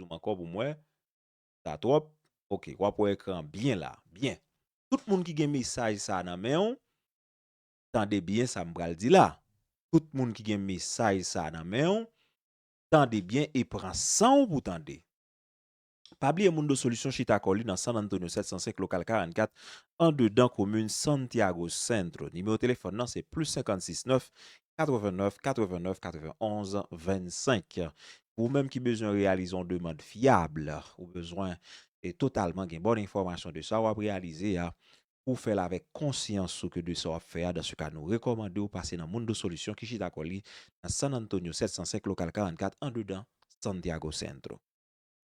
zoom ankò pou m wè. Sa twòp. Ok, w ap wè ekran an byen la. Byen. Tout moun ki gen mesaj sa a nan men w, tande byen sa m pral di la. Tout moun ki gen mesaj sa a nan men w, tande byen e pran san w pou tande. Pa bliye Mundo Solution chita kò li nan San Antonio 705 Lokal 44, andedan komin Santiago Centro. Nimewo telefòn nan se plis 56 9 89 89 91 25 Ou menm ki bezwen reyalize yon demand fyab, ou bezwen e totalman gen bon enfòmasyon de sa wap reyalize a, ou fèl avèk konsyans ou ke de sa wap fè a, dan se ka nou rekòmande ou pase nan Mundo Solution ki chita kò li nan San Antonio 705 Local 44 andedan Santiago Centro.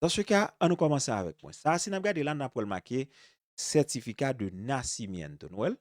Dan se ka, an nou kòmanse avèk mwen. Sa a si nap gade la nap wèl make Certifica de Nacimiento. Nou wèl?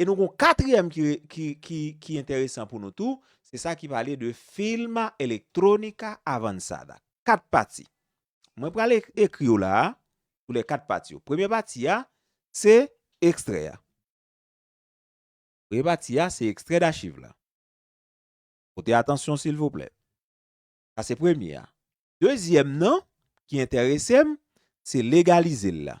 E nou gon katriyèm ki enteresan pou nou tou, se sa ki pale de Filma Electronica Avanzada. Kat pati. Mwen pral ekri yo la a pou lè kat pati yo. Premye pati a, se ekstrè a. Premye pati a, se ekstrè dachiv la. Pote atansyon silvouplè. Sa se premye a. Dezyèm nan, ki enterese m, se legalize l la.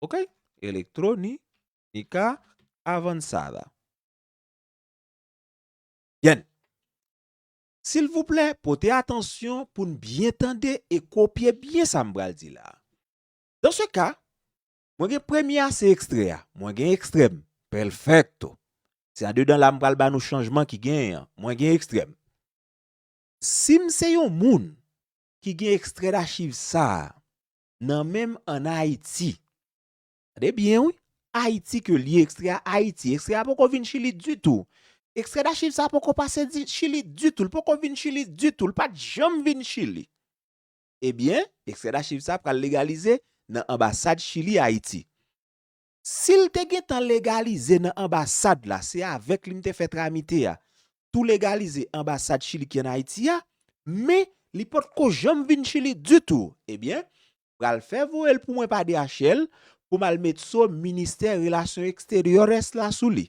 ok elektro ni ni ka avansada byen silvouplè pote atansyon pou n byen tande e kopye byen sa m pral di la dan se ka mwen gen premye a se ekstrè a mwen gen ekstrè m pèlfèkto se andedan la m pral ba nou chanjman ki genyen an mwen gen ekstrè m si m se yon moun ki gen ekstrè dachiv sa a nan menm an Ayiti. Gade byen wi, Ayiti ke li ekstrè a Ayiti, ekstrè a poko vin Chili ditou. Ekstrè dachiv sa poko pase Chili ditou, li poko vin Chili ditou, li pat janm vin Chili. Ebyen, ekstrè dachiv sa pral legalize nan anbasad Chili Ayiti. Sil te gentan legalize nan anbasad la se avèk li m te fè tramite a tou legalize anbasad chili ki an ayiti a men li potko janm vin chili ditou ebyen pral fè voyel pou mwen pa DHL poum al met so ministè relasyon exteriores la sou li.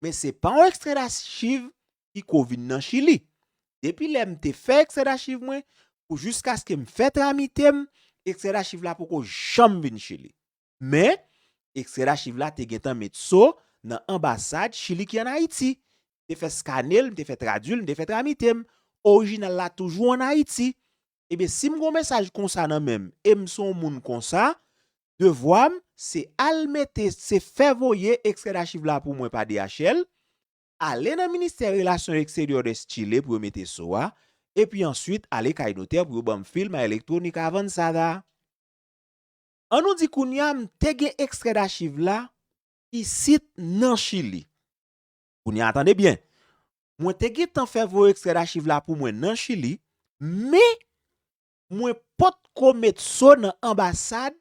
Men se pa yon ekstrè dachiv ki ko vin nan Chili. Depi lè m te fè ekstrè dachiv mwen, pou jiskaske m fè tramite m, ekstrè dachiv la poko janm vin Chili. Men, ekstrè dachiv la te gentan met so nan anbasad Chili ki an Ayiti. M te fè skane l, m te fè tradui l, m te fè tramite m. Orijinal la toujou an Ayiti. Ebyen si m gon mesaj konsa nan men m e m son moun konsa, devwa m se al mete se fè voye ekstrè dachiv la pou mwen pa DHL, ale nan ministè relasyon eksteryè des Chile pou yo mete so a, epi answit ale kay notè pou yo ban m film a electronica avanzada. An nou di kounya m te gen ekstrè dachiv la isit nan Chili. Kounye a tande byen, mwen te gentan fè voye ekstrè dachiv la pou mwen nan Chili, men mwen pot ko met so nan anbasad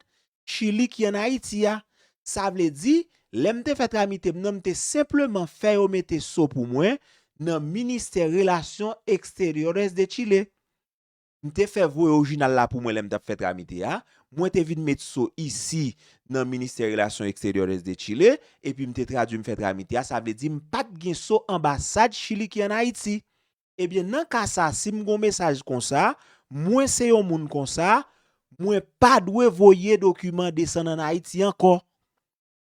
Chili ki an Ayiti a. Sa vle di, lè m te fè tramite m nan, m te senpleman fè yo mete so pou mwen nan Ministère Relations Exteriores de Chile. M te fè voye orijinal la pou mwen lè m t ap fè tramite a. Mwen te vin met so isi nan Ministè Relasyon Eksteryòres de Chile, epi m te tradui m fè tramite a, sa vle di m pa t gen so anbasad Chili ki an Ayiti. Ebyen nan ka sa si m gen yon mesaj konsa, mwen se yon moun konsa, mwen pa dwe voye dokiman desann an Ayiti ankò.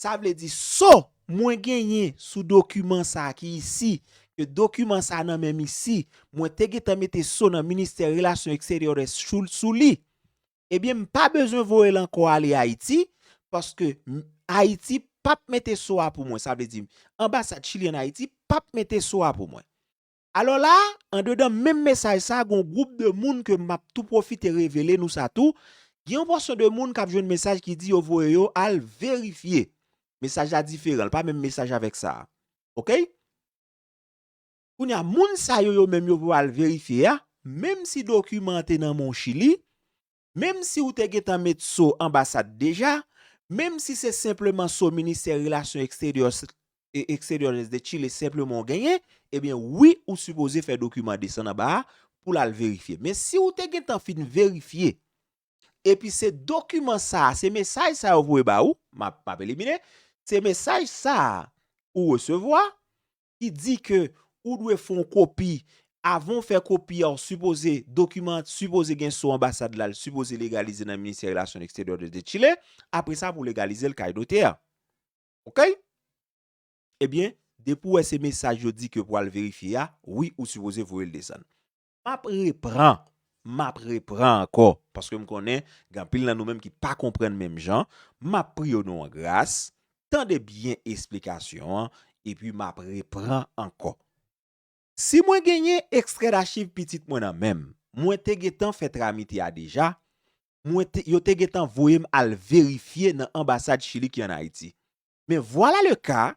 Sa vle di so mwen genyen sou dokiman sa ki isi, ke dokiman sa nan menm isi, mwen te gentan mete so nan ministè relasyon eksteryores Schultz sou li. Ebyen m pa bezwen voye l ankò ale Ayiti, paske Ayiti pap mete so a pou mwen. Sa vle di, anbasad Chili an Ayiti pap mete so a pou mwen. Alò la, andedan menm mesaj sa gen yon gwoup de moun ke m ap tou pwofite revele nou sa tou, gen yon pòsyon de moun k ap jwenn mesaj ki di yo voye yo al verifye. Mesaj la diferan, li pa menm mesaj avèk sa a. Ok? Kounye a, moun sa yo yo menm yo voye al verifye a, menm si dokiman an te nan men w Chili, menm si ou te gentan met so anbasad deja, menm si se senpleman so ministè relasyon exteriores de Chile senpleman ou genyen, ebyen wi ou sipoze fè dokiman desann anba a pou l al verifye. Men si ou te gentan fin verifye, epi se dokiman sa a, se mesaj sa yo voye ba ou, m ap elimine, se mesaj sa a ou resevwa, ki di ke ou dwe fè yon kopi, avan ou fè kopi a ou sipoze dokiman an sipoze gen sou anbasad la, li sipoze legalize nan ministè relasyon eksteryè de de Chile, apre sa pou legalize l kay notè a. Ok? Ebyen, depi ou wè se mesaj yo di ke pou al verifye a, wi ou sipoze voye l desann. M ap repran, m ap repran ankò, paske m konnen gen anpil nan nou menm ki pa konprann menm jan, m ap priye w nou an gras, tande byen esplikasyon an, epi m ap repran ankò. Si mwen genyen ekstrè dachiv pitit mwen nan men m, mwen te gentan fè tramite a deja, mwen te, yo te gentan voye m al verifye nan anbasad Chili ki an Ayiti. Men vwala le ka,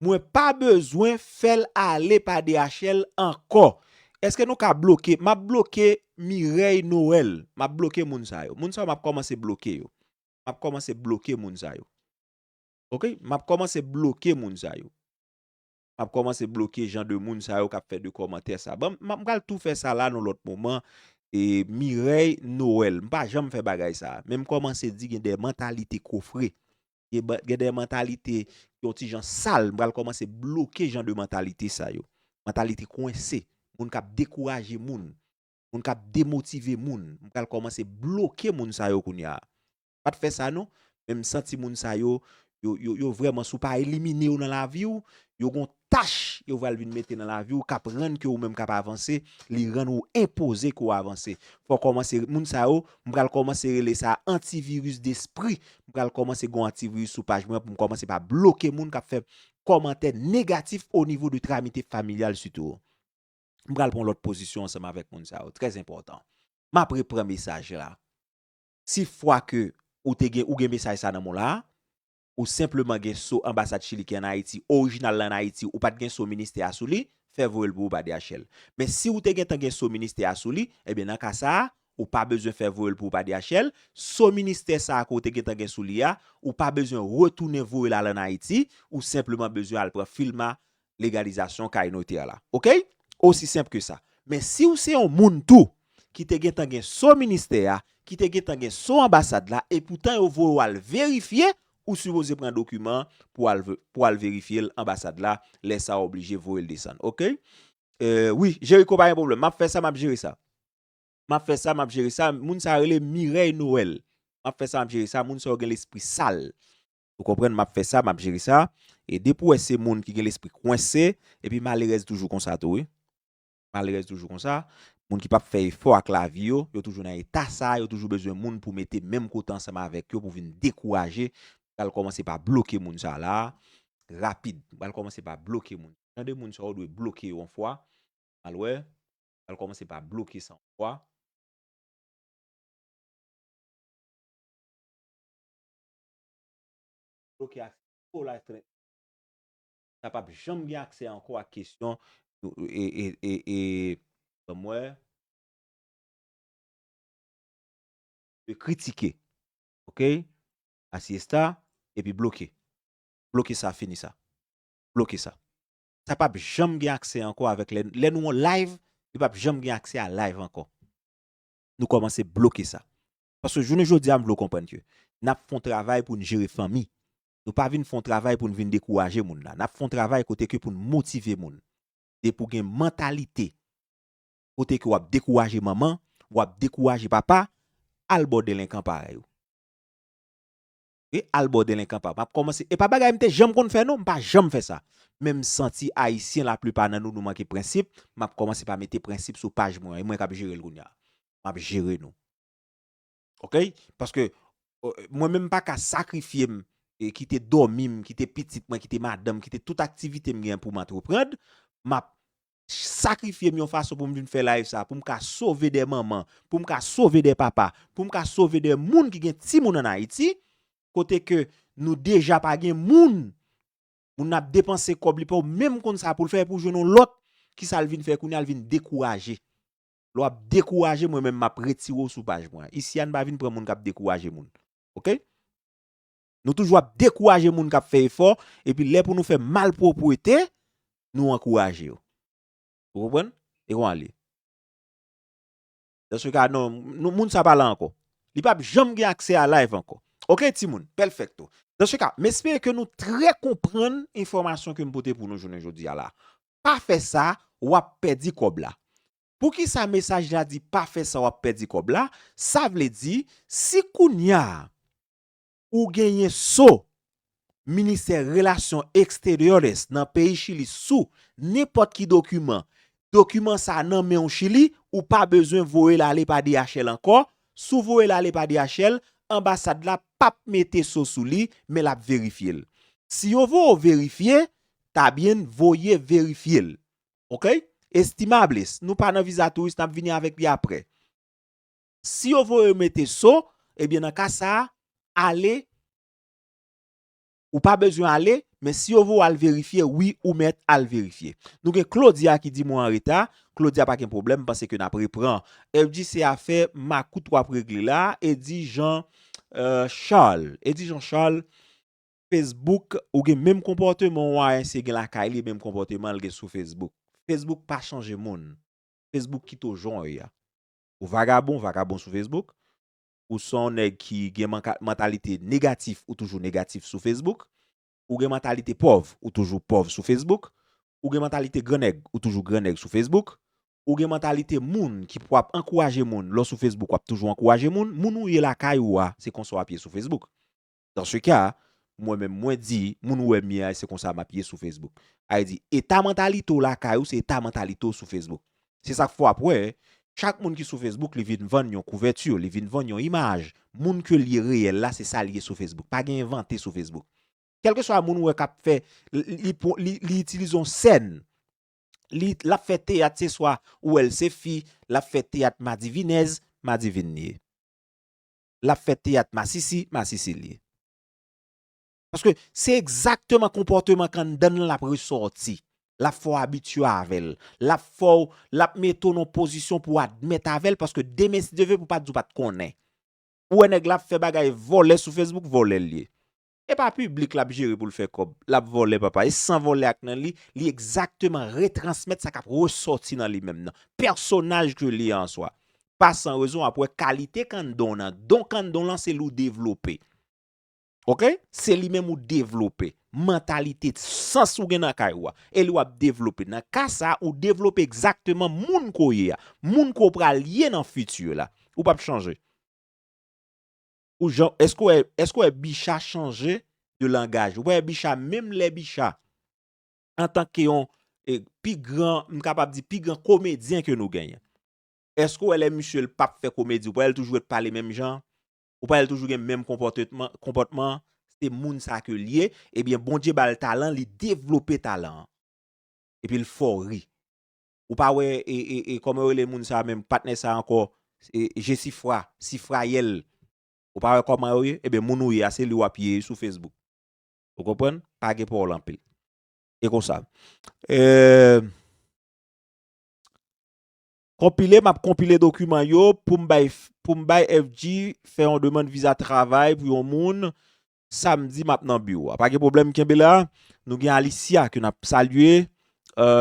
Mwen pa bezwen fèl ale pa DHL ankò eske nou ka bloke map bloke Mireille Noël map bloke moun sa yo moun sa yo map kòmanse bloke yo map kòmanse bloke moun sa yo ok map kòmanse bloke moun sa yo map kòmanse bloke jan de moun sa yo kap fè de kòmantè sa banm m pral tou fè sa la nan lòt moman e Mireille Noël m pa janm fè bagay sa menm kòmanse di gen de mantalite kofre Gen de mantalite ki yon ti jan sal, m pral kòmanse bloke jan de mantalite sa yo. Mantalite kwense, moun k ap dekouraje moun, moun k ap demotive moun, m pral kòmanse bloke moun sa yo kounye a. M pa t fè sa non, men m santi moun sa yo, yo vrèman, si w pa elimine yo nan lavi w, yo gen yon Tach yo pral vin mete nan lavi ou kap rann ke ou menm kap avanse, li rann ou enpoze ke w avanse. Fò w kòmanse, moun sa yo, m pral kòmanse rele sa antivirus despri, m pral kòmanse gon antivirus sou paj mwen an pou m kòmanse pa bloke moun kap fè kòmantè negatif o nivo de tramite familyal sitou. M pral pran lòt pozisyon ansanm avèk moun sa yo, trè enpòtan. Map repran mesaj la. Si fwa ke ou te gen, ou gen mesaj sa nan men w la, ou senpleman gen so anbasad chili ki an ayiti orijinal lan an ayiti ou pat gen so ministè a sou li fè voyel pou ou pa DHL men si ou te gentan gen so ministè a sou li ebyen nan ka sa ou pa bezwen fè voyel pou ou pa DHL so ministè sa a ke ou te gentan gen sou li a ou pa bezwen retounen voyel al an ayiti ou senpleman bezwen al pran filma legalizasyon kay notè la. Ok! Osi senp ke sa. Men si ou se yon moun tou ki te gen tan gen so ministè a, ki te gen tan gen so anbasad la e poutan yo voye w al verifye, ou sipoze pran dokiman an pou al verifye l anbasad la, lè sa w oblije voye l desann. Ok! Eee wi, Jericho pa gen pwoblèm. M ap fè sa, m ap jere sa. M ap fè sa, m ap jere sa. Moun sa rele Mireille Noël. M ap fè sa, m ap jere sa. Moun sa yo gen lespri sal. Ou konprann map fè sa map jere sa e depi ou wè se moun ki gen lespri kwense epi malerèz toujou konsa tou wi malerèz toujou konsa moun ki pap fè efò ak lavi yo yo toujou nan eta sa yo toujou bezwen moun pou mete menm kote ansanm avèk yo pou vin dekouraje m pral kòmanse pa bloke moun sa la rapid m pral kòmanse pa bloke moun jan de moun sa ou dwe bloke yo yon fwa al wè m pral kòmanse pa bloke sa yon fwa. bloke aksè a pou life threat sa pap janm gen aksè ankò ak kesyon e banm wè de kritike ok asi esta epi bloke bloke sa fini sa bloke sa sa pap janm gen aksè ankò avèk lè nou an live li pap janm gen aksè a live ankò nou kòmanse bloke sa Paske jounen jodi a m vle w konprann ke n ap fè yon travay pou n jere fanmi. Nou pa vin fè yon travay pou n vin dekouraje moun la. N ap fè yon travay kote ke pou n motive moun. E pou gen mantalite kote ke w ap dekouraje manman, w ap dekouraje papa, al bò delenkan parèy ou. Wi al bò delenkan pa map kòmanse e pa bagay mte janm konn fè non mpa janm fè sa men msanti ayisyen la plipa nan nou nou manke prensip map kòmanse pa mete prensip sou paj mwen an e mwen kap jerel kounya map jere nou ok paske mwen menm mpaka sakrifyem kite dòmim kite pitit mwen kite madanm kite tout aktivitem gen poum antreprand map sakrifye m yon fason pou m vin fè live sa pou m ka sove de manman, pou m ka sove de papa, pou m ka sove de moun ki gen timoun an Ayiti, kote ke nou deja pa gen moun, moun nan ap depanse kòb li pa menm konn sa pou l fè epi w jwenn yon lòt, kisa l vin fè kounye a l vin dekouraje. Lè w ap dekouraje mwen menm m ap retire w sou paj mwen an. Isi a n pa vin pran moun k ap dekouraje moun. Ok. Nou toujou ap dekouraje moun kap fè efò epi lè pou nou fè malpwopwete nou ankouraje yo. Ou konprann? E konwa li? Dans ce cas non, moun sa pa la ankò. Li pap janm gen aksè a live ankò. Ok timoun, pelfekto. Dans ce cas, m espere ke nou trè konprann enfòmasyon ke m pote pou nou jounen jodi a la. Pa fè sa, wap pèdi kòb la. Poukisa mesaj la di pa fè sa wap pèdi kòb la? Sa vle di, si kounya Ou genyen so Ministè Relasyon Exteriores nan peyi Chili sou nenpòt ki dokiman, dokiman sa nan men ou Chili, ou pa bezwen voye l ale pa DHL ankò, si w voye l ale pa DHL, anbasad la p ap mete so sou li, men l ap verifye l. Si yo voye w verifye, ta byen voye verifye l. Ok? Estimables, nou pa nan viza touris, n ap vini avèk li aprè. Si yo voye yo mete so, ebyen nan ka sa a, ale, ou pa bezwen ale, men si yo voye w al verifye, wi ou mèt al verifye. Nou gen Claudia ki di mwen an reta, Claudia pa gen pwoblèm, m panse ke n ap repran. Eddy se afè makout w ap regle la, Eddy Jean Charles. Eddy Jean Charles, Facebook, ou gen menm konpòteman yon ayisyen gen lakay li, menm konpòteman l gen sou Facebook. Facebook pa chanje moun. Facebook kite w jan w ye a. Ou vagabon, vagabon sou Facebook. Ou se yon nèg ki gen mantalite negatif, ou toujou negatif sou Facebook. Ou gen mantalite pòv, ou toujou pòv sou Facebook. Ou gen mantalite gran nèg, ou toujou gran nèg sou Facebook. Ou gen mantalite moun ki pou ap ankouraje moun, lè w sou Facebook w ap toujou ankouraje moun. Moun ou ye lakay ou a, se konsa w ap ye sou Facebook. Dans ce cas, mwen menm mwen di, moun ou wè m ye a se konsa map ye sou Facebook. Ay di, eta mantalite w lakay ou se eta mantalite w sou Facebook. Se sak fè wap wè, chak moun ki sou Facebook li vin vann yon couverture, li vin vann yon imaj. Moun ke l ye reyèl la se sa l ye sou Facebook. Pa gen envante sou Facebook. Kelkeswa moun ou wè kap fè, li itilize yon scène, li lap fè teyat se swa ou wè l se fi, lap fè teyat madivinèz, madivin li ye. lap fè teyat masisi masisi liye. Paske se egzakteman konpòteman k anndan l lan lap resòti. Lap fè w abitye avè l. Lap fè w, lap mete w nan yon pozisyon pou w admèt avè l paske demen si Dye vle pou w pa di w pat konnen. Ou wè nèg la ap fè bagay vòlè sou Facebook, vòlè l ye. Epa piblik lap jere poul fè kòb, lap vòlè papa, e san vòlè ak nan li, li egzakteman retransmèt sa kap resòti nan li menm nan pèsonaj ke li an swa. Pa san rezon wap wè kalite kanndon nan, don kanndon lan se li ou devlope. Ok, se li menm ou devlope, mantalite, sans ou gen nan kay ou a, e li wap devlope. Nan ka sa, ou devlope egzakteman moun ke w ye a, moun ke w pral ye nan futur la. Ou pap chanje. Ou jan, eske wè, eske wè Bicha chanje de langaj? Ou pa wè Bicha, menm lè Bicha, antanke yon pi gran, m kapab di, pi gran komedyen ke nou genyen. Eske wè lè misye l pap fè komedi, ou pa wè l toujou ret pale menm jan? Ou pa wè l toujou gen menm konpòtetman, konpòtman? Se moun sa ke l ye, ebyen Bondye ba l talan, li devlope talan an. Epi l fè w ri. ou pa wè e kòman yo rele moun sa menm patnè sa ankò jesifra sifrayèl ou pa wè kòman yo ye eben moun ou ye a se li wap ye sou fesbouk ou konprann pa gen pawòl anpil e konsa eee konpile map konpile dokiman yo poum bay FG fè yon demand viza travay pou yon moun Samedi map nan biwo a. Pa gen pwoblèm kenbe la. Nou gen Alicia ke nap salye.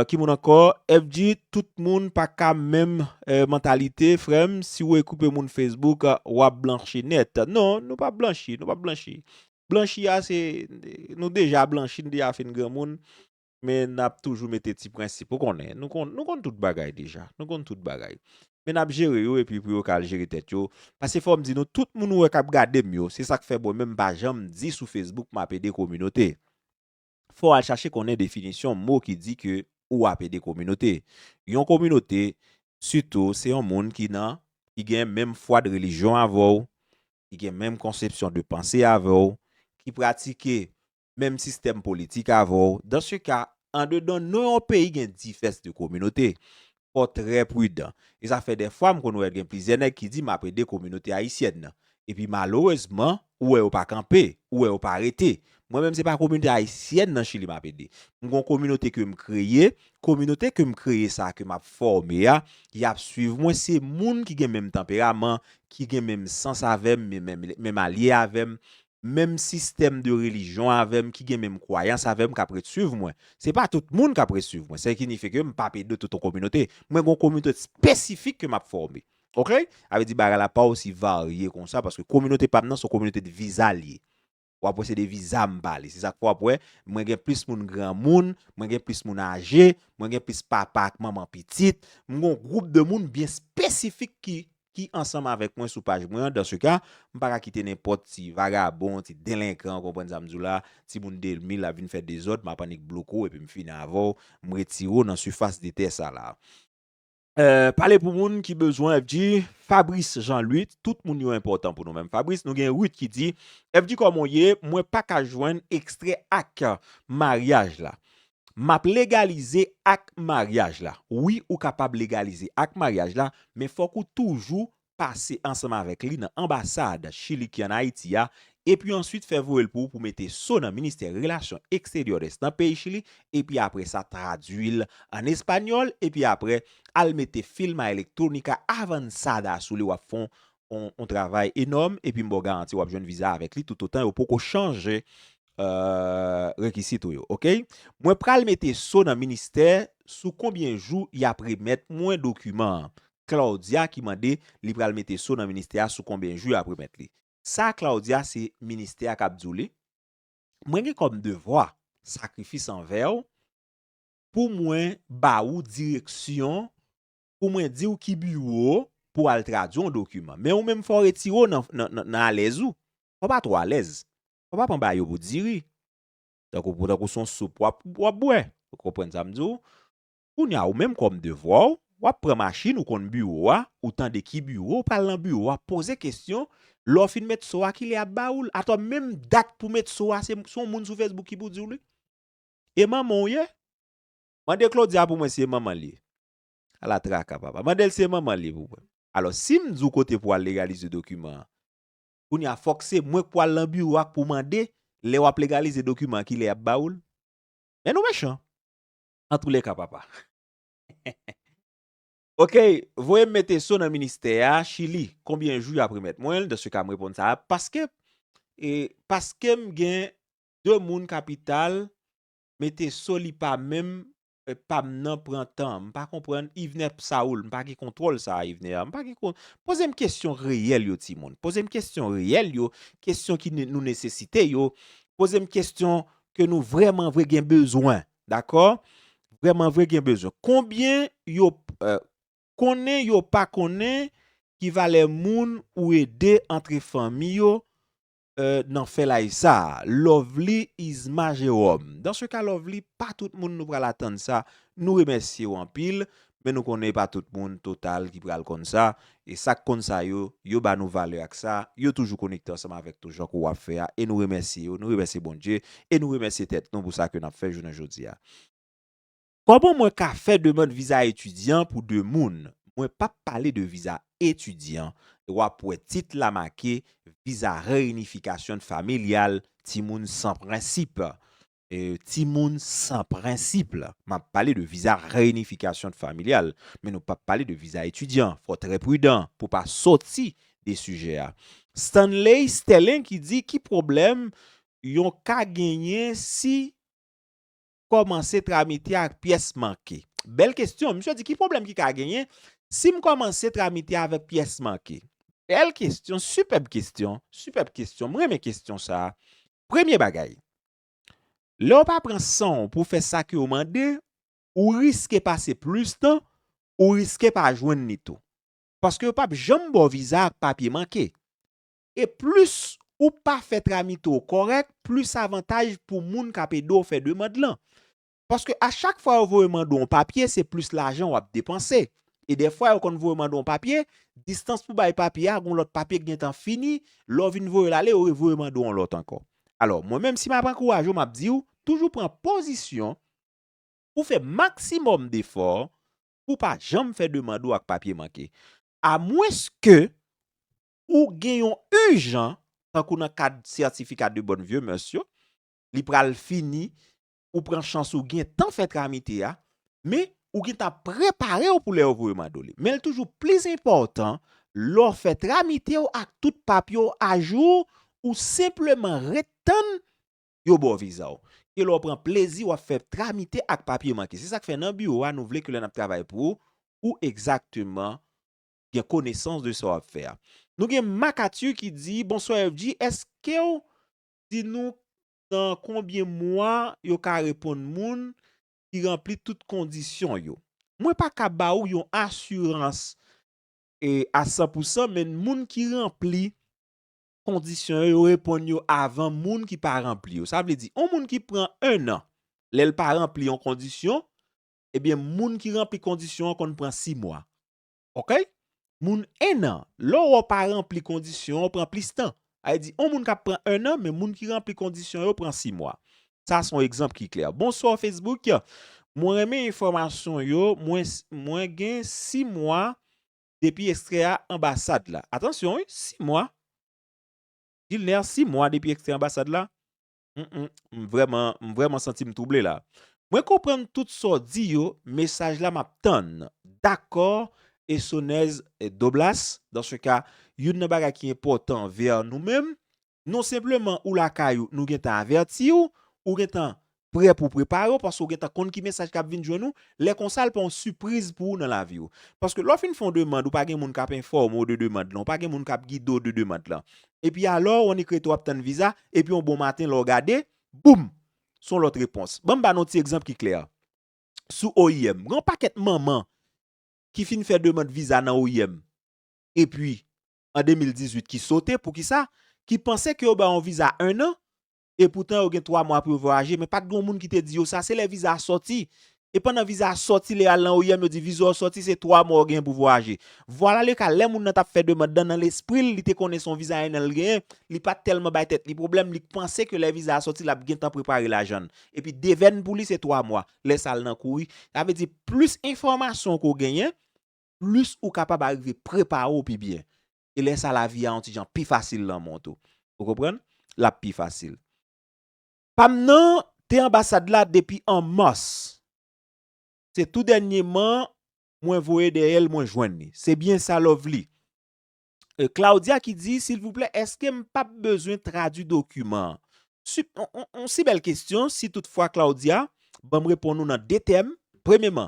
Ki moun ankò? FG tout moun pa ka menm mantalite frèm. Si ou ekoupe moun Facebook wap blanchi nèt. Non, nou pap blanchi, nou pap blanchi. Blanchi a se nou deja blanchi nou deja fin granmoun. Men n ap toujou mete ti prensip. Ou konnen, nou konn tout bagay deja. Nou konn tout bagay. Men n ap jere yo epi pou yo ka al jere tèt yo. Pase fò m di nou, tout moun ou wè k ap gade m yo, se sa k fè mwen menm m pa janm di sou Facebook m ap ede kominote. Fò w al chache konnen definisyon mo ki di ke ou ap ede kominote. Yon kominote, sitou, se yon moun ki nan, ki gen menm fwa de relijyon avè w, ki gen menm konsepsyon de panse avè w, ki pratike menm sistèm politik avè w, dans ce cas, andedan non yon peyi gen difès de kominote. Fò w trè pridan. E sa fè dèfwa m konn wè gen plizyè nèg ki di m ap ede kominote ayisyèn nan. Epi malerezman, ou wè yo pa kanpe, ou wè yo pa rete. Mwen menm se pa kominote ayisyèn nan Chili m ap ede. M gon kominote ke m kreye, kominote ke m kreye sa ke m ap fòme a, y ap swiv mwen, se moun ki gen menm tanperaman, ki gen menm sans avè m, menm alye avè m, menm sistèm de relijyon avè m, ki gen menm kwayans avè m k ap ret suiv mwen. Se pa tout moun k ap ret suiv mwen. Sè ki nifye ke m pa ap ede tout yon kominote. Mwen gen yon kominote espesifik ke m ap fòme. Ok? Sa vle di bagay la pa osi varye konsa paske kominote pa m nan se yon kominote de viza li ye. Ou ap wè se de viza m pale. Se sa k fè w ap wè mwen gen plis moun granmoun, mwen gen plis moun aje, mwen gen plis papa ak manman pitit. M gen yon gwoup de moun byen espesifik ki ki ansanm avèk mwen sou paj mwen an, dans ce cas, m pa ka kite nenpòt ti vagabon, ti delenkan, ou konprann sa m di w la, ti moun 2000 ap vin fè dezòd, m ap annik bloke w epi m fini avè w, m retire w nan sifas de tè sa la. Pale pou moun ki bezwen FG. Fabrice Jean Luth, tout moun yo enpòtan pou nou men Fabrice, nou gen Ruth ki di, FG kòman w ye, mwen pa ka jwenn ekstrè ak maryaj la. Map legalize ak maryaj la. Wi ou kapab legalize ak maryaj la, men fòk ou toujou pase ansanm avèk li nan anbasad Chili ki an Ayiti a, epi answit fè voye l pou ou pou mete so nan ministè relasyon exteriores nan peyi Chili, epi apre sa tradwi l an espanyòl, epi apre al mete filma electronica avanzada sou li wap fon on travay enòm epi m ba w garanti wap jwenn viza avèk li toutotan yo poko chanje rekisit ou yo ok. Mwen pral mete so nan ministè sou konbyen jou yap remèt mwen dokiman an Claudia ki mande li pral mete so nan ministè a sou konbyen jou yap remèt li sa Claudia se ministè a kap di w li mwen gen kòm devwa sakrifis anvè w pou mwen ba ou direksyon pou mwen di w ki biwo pou w al tradwi yon dokiman men ou menm fò w retire w nan alèz ou fò w pa twò alèz Ou pa pran ba yo pou diri. Tankou pou tankou son soup w ap w ap bwè. Ou konprann sa m di w? Kounye a ou menm kòm devwa w, w ap pran machin ou konn biwo a, ou tande ki biwo, ou pral nan biwo a poze kesyon, lè w fin met so a kilè y ap ba ou l? Atò menm dat pou met so a se yon moun sou Facebook ki pou di w li? E manman w ye? Mande Claudia pou mwen si e manman l ye. Ala traka papa. Mande l si e manman l ye pou mwen. Alò si m di w kote pou w al legalize dokiman an, Kounye a fòk se mwen k pou al lan biwo a k pou mande lè w ap legalize dokiman an ki lè y ap ba ou l. Men nou mechan. Antoulèka papa. Ok, voye m mete so nan ministè a, Chili, konbyen jou y ap remèt mwen l, dan se ka m reponn sa a, paske, e, paske m gen 2 moun kapital mete so li pa menm pam nan pran tan m pa konprann Yvner Saul m pa gen kontwòl sa a Yvner m pa gen kon poze m kesyon reyèl yo ti moun poze m kesyon reyèl yo kesyon ki nou nesesite yo poze m kesyon ke nou vrèman vre gen bezwen dakò vrèman vre gen bezwen konbyen yo konnen yo pa konnen ki valè moun ou ede antre fanmi yo nan fè live sa Lovely Isma Jérôme dans ce cas Lovely pa tout moun nou pral atann sa nou remèsyew anpil men nou konnen pa tout moun total ki pral konn sa e sak konn sa yo yo ba nou valè ak sa yo toujou konekte ansanm avèk nou jan kou wap fè a e nou remèsye yo nou remèsye Bondye e nou remèsye tèt nou pou sa ke nap fè jounen jodia. Koman mwen ka fè demand viza etidyan pou 2 moun? Mwen pap pale de viza etidyan, wap wè tit la make Visa Reunificación Familial Timoun san prensip Timoun san prensip Map pale de Visa Reunificación Familial men nou pap pale de viza etidyan fò trè pridan pou pa soti de sijè a Stanley Sterling ki di ki pwoblèm yon ka genyen si kòmanse tramite ak pyès manke? Bèl kesyon, misye di ki pwoblèm ki ka genyen si m kòmanse tramite avèk pyès manke? Bèl kesyon, sipèb kesyon, sipèb kesyon, m renmen kesyon sa. Premye bagay, lè w pa pran san w pou w fè sa ke yo mande, ou riske pase plis tan, ou riske pa jwenn li tou. Paske yo p ap janm ba w viza ak papye manke. E plis ou pa fè tramite w kòrèk, plis avantaj pou moun k ap ede w fè demand lan. Paske a chak fwa yo voye mande w yon papye, se plis lajan w ap depanse. E dèfwa yo konn voye mande w yon papye, distans pou bay papye a, gen yon lòt papye ki gentan fini, lè w vin voye l ale, yo revoye mande w yon lòt ankò. Alò, mwen menm si m ap ankouraje w, m ap di w, toujou pran pozisyon pou fè maksimòm defò pou w pa janm fè demand ou ak papye manke. Amwenske ou gen yon ijan, tankou nan kad sètifika de bonne vieux mœurs yo, li pral fini, ou pran chans ou gen tan fè tramite a, men ou gen tan prepare w pou lè yo voye mande w li. Men li toujou plis enpòtan, lè w fè tramite w ak tout papye w ajou, ou senpleman ret tann yo ba w viza w, ke lè w pran plezi w ap fè tramite ak papye manke. Se sa k fè nan biwo a nou vle ke lè n ap travay pou ou, ou egzakteman gen konesans de sa wap fè a. Nou gen Makatu ki di, Bonswa FG, eskew di nou nan konbyen mwa yo ka reponn moun ki ranpli tout kondisyon yo? Mwen pa ka ba ou yon asirans a 100 pou 100 men moun ki ranpli kondisyon yo, yo reponn yo avan moun ki pa ranpli yo. Sa vle di, yon moun ki pran 1 an, lèl pa ranpli yon kondisyon, ebyen moun ki ranpli kondisyon an konn pran 6 mwa. Ok moun 1 an lè ou wè ou pa ranpli kondisyon ou pran plis tan sa vle di on moun kap pran 1 an men moun ki ranpli kondisyon yo pran 6 mwa sa son egzanp ki klè bonsoir Facebook mwen renmen enfòmasyon yo mwen mwen gen 6 mwa depi ekstrè a anbasad la atansyon wi 6 mwa Gilner 6 mwa depi ekstrè anbasad la Mph m vrèman m vrèman santi m trouble la. Mwen konprann tout sa w di yo mesaj la map tann dakò Esonèz Doblas dans ce cas youn nan bagay ki enpòtan ver nou menm non senpleman ou lakay ou nou gentan avèti w ou gentan prè pou w prepare w paske w gentan konn ki mesaj kap vin jwenn ou lè konsa l pa yon sipriz pou ou nan lavi w paske lè w fin fè yon demand ou pa gen moun kap enfòme w de demand lan ou pa gen moun kap gide w de demand lan Epi alò, ou annik rete w ap tann viza, epi yon bon maten lè w gade, boum! Se yon lòt repons. Ban m ba nou yon ti egzanp ki klè. Sou oim, gen yon pakèt manman ki fin fè demand viza nan oim, epi an 2018 ki sote, poukisa? Ki panse ke yo ba yo yon viza ennan, e poutan yo gen 3 mwa pou yo vwayaje men pat gen yon moun ki te di yo sa se lè viza a sòti e pandan viza a sòti lè yo al nan oim yo di viza w sòti se 3 mwa w genyen pou vwayaje vwala le ka lè moun nan tap fè demand lan nan lespri l li te konnen son viza 1 an l genyen li pat tèlman bay tèt li pwoblèm li k panse ke lè viza a sòti lap gentan prepare lajan l epi devèn pou li se 3 mwa lè sa l nan kouri sa vle di plis enfòmasyon ke w genyen plis ou kapab arive prepare w pi byen e lè sa lavi a yon ti jan pi fasil lanmou an tou. Ou konprann? L ap pi fasil. Pa m nan te anbasad la depi an mas. Se tou dènyeman mwen voye dèyè l mwen jwenn li. Se byen sa Lovely? Claudia ki di, silvouplè èske m p ap bezwen tradui dokiman an? Yon si bèl kesyon, si tout fwa Claudia, ban m reponn ou nan 2 tèm. Premyeman,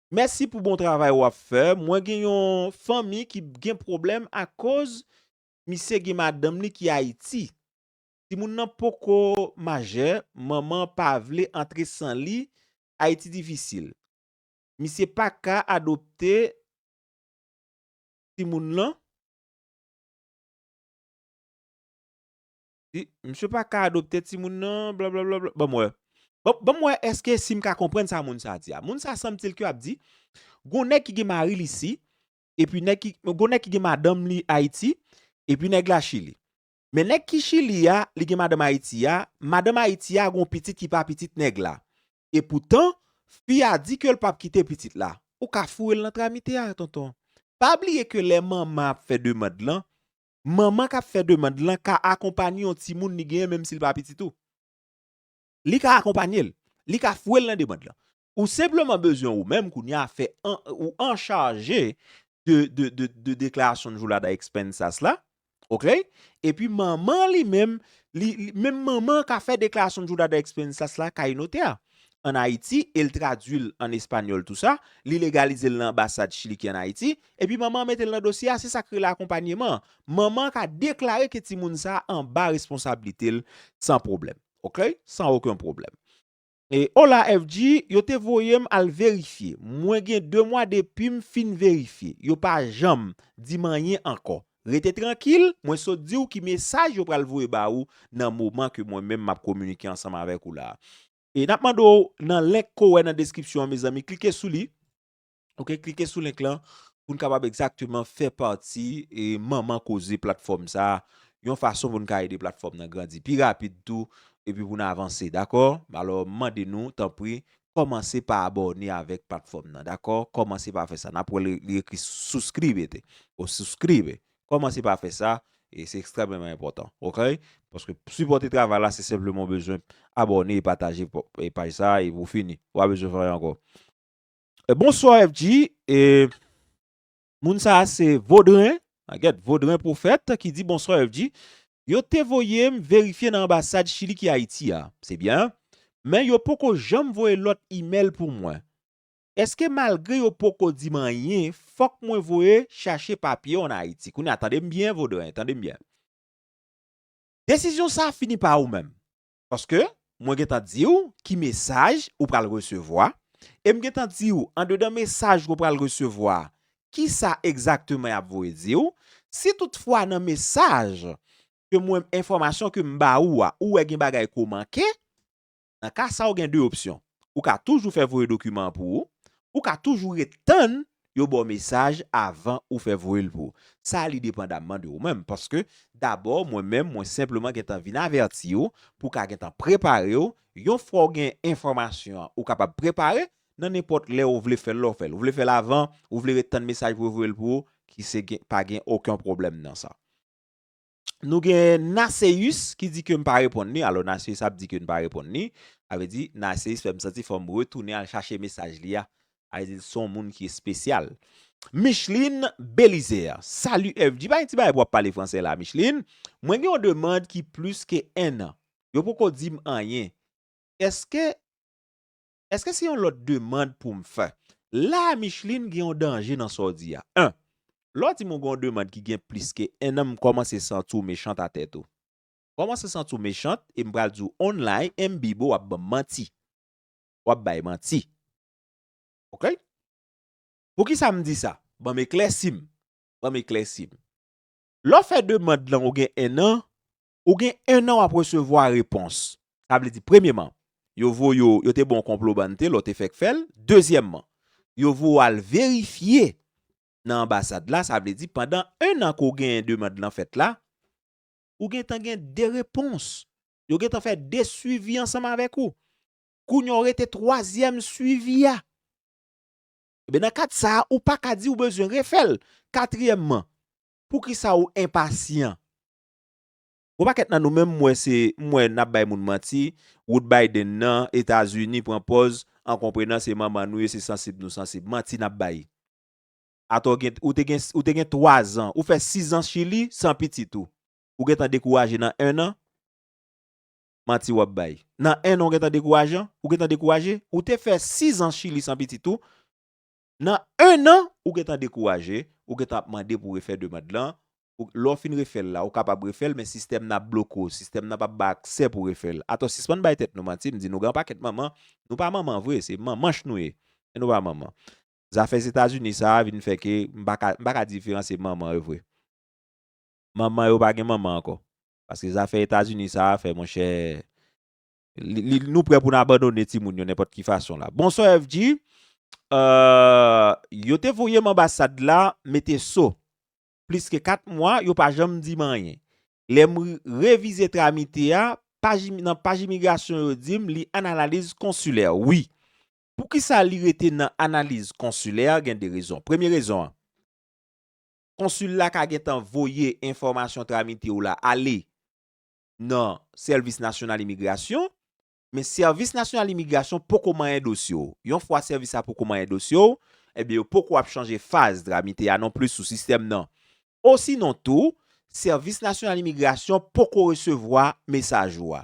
Mèsi pou bon travay wap fè mwen gen yon fanmi ki gen problèm akoz misye gen madanm li ki ayiti timoun nan poko majè manman pa vle antre san li ayiti difisil misye paka adopte timoun lan. Di, misye pa ka adopte timoun nan, blablabla. Ban m wè. Ban m wè èske si m ka konprann sa moun sa a di a. Moun sa a sanbtil ke ap di, gon nèg ki gen mari l isi, epi nèg ki, gon nèg ki gen madanm li Ayiti, epi nèg la Chili. Men nèg ki Chili a, li gen madanm Ayiti a, madanm Ayiti a gon pitit ki pa pitit nèg la. E poutan, fi a di ke l pap kite pitit la. Ou ka foure l nan tramite a, tonton. Pa bliye ke lè manman ap fè demand lan, manman k ap fè demand lan ka akonpanye yon timoun li genyen menm si l pa pitit ou. Li ka akonpanye l. Li ka fwe l nan demand lan. Ou senpleman bezwen ou menm kounye a fè ou anchaje de deklarasyon jour la da expenses la, ok, epi manman li menm, menm manman an ka fè deklarasyon jour la da expenses la kay notè a an Ayiti e l tradui l an espanyòl tou sa, li legalize l nan anbasad Chili ki an Ayiti, epi manman an mete l nan dosye a, se sa k rele akonpanyeman, manman an ka deklare ke timoun sa a anba responsablite l san pwoblèm. Ok, san oken pwoblèm. E, Hola FG, yo te voye m al verifye. Mwen gen 2 mwa depi m fin verifye. Yo pa janm di m anyen ankò. Rete trankil, mwen sot di w ki mesaj yo pral voye ba ou nan moman ke mwen menm m ap kominike ansanm avèk ou la a. E n ap mande w nan link ke w wè nan deskripsyon an mezanmi, klike sou li. Ok klike sou link lan pou n kapab egzakteman fè pati e manman koze platfòm sa a yon fason pou n ka ede platfòm nan grandi pi rapid tou epi pou n avanse dakò alò m mande nou tanpri kòmanse pa abòne avèk platfòm nan dakò kòmanse pa fè sa n ap wè li ekri suscribete o suscribe kòmanse pa fè sa e se ekstrèmeman enpòtan ok paske sipòte travay la se senpleman w bezwen abòne e pataje paj sa a e pou fini ou pa bezwen fè anyen ankò. Bonsoir FG e moun sa se Vaudrin, aget Vaudrin prophète ki di bonsoir FG. Yo te voye m verifye nan anbasad Chili ki Ayiti a. Se byen. Men yo poko janm voye lòt email pou mwen. Eske malgre yo poko di m anyen fòk mwen voye chache papye an Ayiti? Kounye a tande m byen Vaudrin, tande m byen. Desizyon sa fini pa ou menm. Paske, mwen gen tan di ou ki mesaj ou pral resevwa, e m gen tan di ou andedan mesaj ke w pral resevwa a, kisa egzakteman y ap voye di ou, si tout fwa nan mesaj ke mwen, enfòmasyon ke m ba ou a, ou wè gen bagay ke w manke, nan ka sa ou gen 2 opsyon, ou ka toujou fè voye dokiman an pou ou, ou ka toujou ret tann yo baw mesaj avan ou fè voyel pou sa li depandamman de ou menm paske dabò mwen menm mwen senpleman gentan vin avètiw pou ka gentan preparew yon fwa ou gen enfòmasyon an ou kapab prepare nan nenpòt lè ou vle fèl lè ou fèl ou vle fèl avan ou vle ret tann mesaj pou yo voyel pou ou ki se gen pa gen oken pwoblèm nan sa. Nou gen Naceus ki di ke m pa reponn li, alò Naceus ap di ke n pa reponn li, sa vle di Naceus fè m santi fò m retounen al chache mesaj li a, sa vle di l son moun ki espesyal. Micheline Belizaire, Salut FG, pa gen ti bagay pou w ap pale fransè la Micheline, mwen gen yon demand ki plis ke 1 an, yo poko di m anyen, eske Eske se yon lòt demand pou m fè? La a Micheline gen yon danje nan sa w di a. 1, Lè w di m ou gen yon demand ki gen plis ke 1 an m kòmanse santi w mechant a tèt ou. M kòmanse santi w mechant e m pral di w onlay M Bibo w ap ban m manti. W ap bay manti. Ok? Poukisa m di sa? Ban m eklèsi m. Ban m eklèsi m. Lè w fè demand lan ou gen 1 an, Ou gen 1 an wap resevwa repons. Sa vle di premyeman, yo voye w, yo te ban w konplo bannte lè w te fèk fè l. Dezyèmman, yo voye w al verifye nan anbasad la, sa vle di pandan 1 an ke w genyen demand lan fèt la, ou gentan gen 2 repons. Yo gentan fè 2 swivi ansanm avèk ou. Kounye a w rete twazyèm swivi a. Ebyen nan kad sa a, ou paka di ou bezwen refè l. Katriyèmman, poukisa ou enpasyan? Gwo pakèt nan nou menm mwen se m wè nap bay moun manti wout Biden nan etazini pran pòz an konprenan se manman nou ye se sansib nou sansib manti nap bay atò gen ou te gen ou te gen 3 zan ou fè 6 zan chili san pitit ou ou gentan dekouraje nan 1 an manti wap bay nan 1 an ou gentan dekourajan ou gentan dekouraje ou te fè 6 zan chili san pitit ou Nan 1 an, ou gentan dekouraje, ou gentan ap mande pou refè demand lan, lè w fin refè l la, ou kapab refè l men sistèm nan ap bloke w, sistèm nan pap ba aksè pou refè l. Atò sispann bay tèt nou manti, m di nou gen yon pakèt manman, nou pa manman vre, se manmanch nou ye, men nou pa manman. Zafè Zetazini sa a vin fè ke m pa ka, m pa ka diferansye manman yo vre. Manman yo pa gen manman ankò. Paske zafè Etazini sa a fè monchè, Li nou prè pou n abandone timoun yo nenpòt ki fason la. Bonsoir FG, euh yo te voye m anbasad la mete so. Plis ke 4 mwa yo pa janm di m anyen. Lè m revize tramite a, paj nan paj imigrasyon yo di m li an analiz konsilè. Wi. Poukisa li rete nan analiz konsilè gen 2 rezon. Premye rezon an, konsil la ka gentan voye enfòmasyon tramite w la ale nan Sèvis Nasyonal Imigrasyon, men Sèvis Nasyonal Imigrasyon poko manyen dosye w. Yon fwa sèvis sa poko manyen dosye w, ebyen yo poko ap chanje faz dramite a nonplis sou sistèm nan. Osinon tou, Sèvis Nasyonal Imigrasyon poko resevwa mesaj ou a.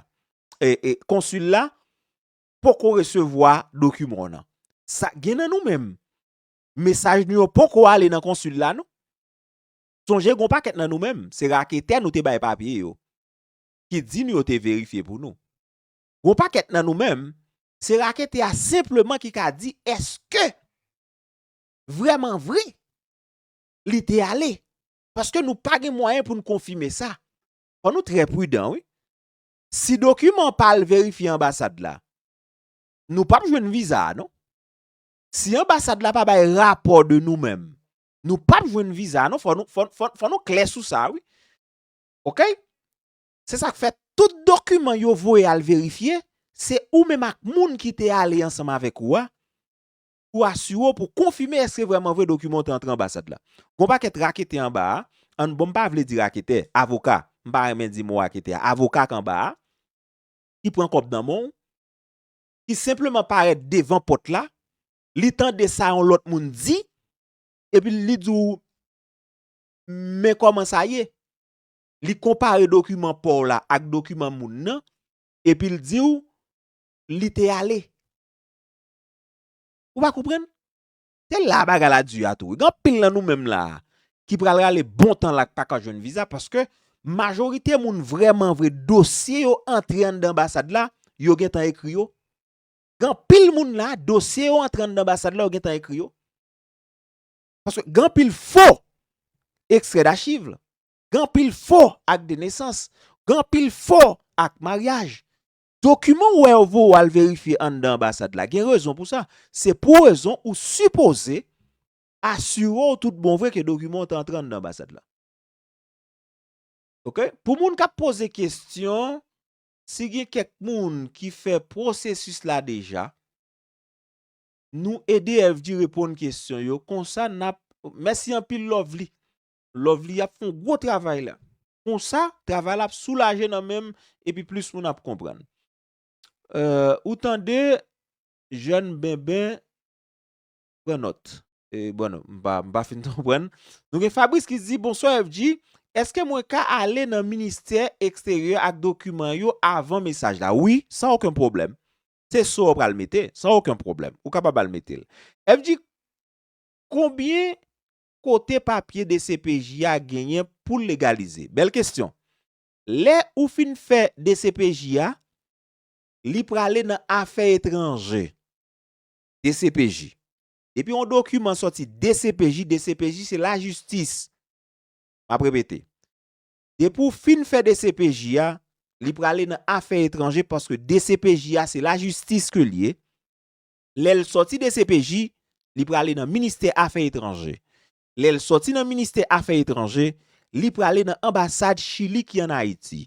E, e, konsil la poko resevwa dokiman w nan. Sa gen nan nou menm, mesaj nou yo poko ale nan konsil la non. Sonje gon pakèt nan nou menm, se raketè nou te bay papye yo, ki di nou yo te verifye pou nou. Gon pakèt nan nou menm, se raketè a senpleman ki ka di eske vreman vre li te ale. Paske nou pa gen mwayen pou nou konfime sa. Fò nou trè pridan wi. Si dokiman pa al verifye anbasad la, nou pap jwenn viza a non. Si anbasad la pa bay rapò de nou menm, Nou pap jwenn viza non fò nou fò nou klè sou sa wi. Ok? Se sak fè tout dokiman yo voye al verifye, se ou menm ak moun ki te ale ansanm avèk ou a pou asire w pou konfime eske vrèman vre dokiman w te antre anbasad la. Gon pakèt raketè anba a, an bon m pa vle di raketè, avoka, m pa renmen di mo raketè a, avoka k anba a, ki pran kòb nan men w, ki senpleman parèt devan pòt la, li tande sa yon lòt moun di, epi li di w, men kòman sa ye, li konpare dokiman pa w la ak dokiman moun nan, epi l di w, li te ale. Ou pa konprann? Se la a bagay la di a tou. Gen anpil nan nou menm la a, ki pral rale bon tan la k pa ka jwenn viza, paske majorite moun vrèmanvre dosye yo antre anndan anbasad la, yo gentan ekri yo, Gen anpil moun la, dosye yo antre anndan anbasad la yo gentan ekri yo. Paske gen anpil fo ekstrè dachiv, gen anpil fo ak de nesans, gen anpil fo ak maryaj. Dokiman ou wè yo voye ou al verifye anndan anbasad la, gen rezon pou sa. Se pou rezon ou sipoze asire ou tout bon vre ke dokiman ou te antre anndan anbasad la. Ok? Pou moun k ap poze kestyon, Si gen kèk moun ki fè pwosesis la deja, nou ede FG reponn kesyon yo konsa nap Mèsi anpil Lovely. Lovely ap fè yon gwo travay la. Konsa travay la ap soulaje nan menm epi plis moun ap konprann. Ou tande jèn benben. pran nòt. E bon non, m pa m pa fin konprann. Nou gen Fabrice ki di bonswa FG, eske mwen ka ale nan ministè eksteryè ak dokiman yo avan mesaj la? Wi, san oken pwoblèm. Se so ou pral mete, san oken pwoblèm. Ou kapab al mete l. FG, konbyen kote papye dcpj a genyen pou l legalize? Bèl kesyon. Lè ou fin fè dcpj a, li prale nan afè etranje. dcpj. Depi yon dokiman sòti dcpj, dcpj se lajistis. M ap repete. Depi ou fin fè dcpj a, li prale nan afè etranje paske dcpj a se lajistis ke li ye. Lè l sòti dcpj, li prale nan ministè afè etranje. Lè l sòti nan ministè afè etranje, li prale nan anbasad Chili ki an Ayiti.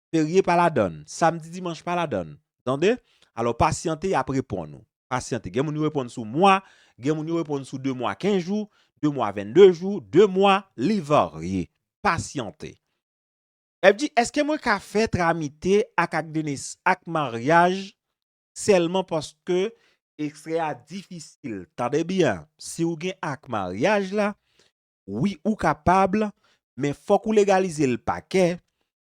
Ferye pa ladann, samdi dimanch pa ladann. Ou tande? Alò pasyante y ap reponn ou. Pasyante. Gen moun yo reponn sou mwa, gen moun yo reponn sou 2 mwa 15 jou, 2 mwa 22 jou, 2 mwa, li varye. Pasyante. Lè di, èske mwen ka fè tramite ak ak de nes ak maryaj sèlman paske ekstrè a difisil. Tande byen, si ou gen ak maryaj la, wi ou kapab, men fòk ou legalize l pakè,